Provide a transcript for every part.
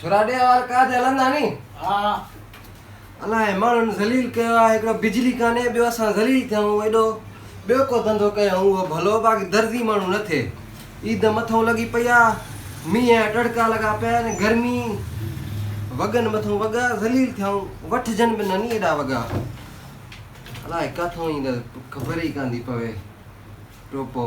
ڇورا ڏيهه وار ڪاڄ هلندا ني. ها ها. الاء ماڻهن ذليل ڪيو آ هڪڙو بجلي ڪانهي ٻيو اسان ذليل ٿيون ايڏو ٻيو ڪو ڌنڌو ڪيون اهو ڀلو باقي درزي ماڻهو نه ٿئي عيد مٿون لڳي پئي آ مينهن جا ٽڙڪا لڳا پيا آهن گرمي وڳن مٿون وڳا ذليل ٿيون وٺجن به نه ني ايڏا وڳا الاء ڪاٿون ايندا خبر ئي ڪانه ٿي پوي ٽوپو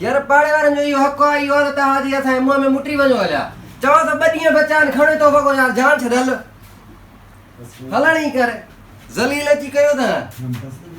يار پاڙي وارن جو اهو حق آ، اهو آ ته توهان جي اسان جي منهن ۾ مٽي وڃو هليا. چوان ٿو ٻه ڏينهن بچا آهن، کڻ تو وڳو يار جان ڇڏ هل. هلڻ ئي ڪر. ذليل اچي ڪيو اٿان.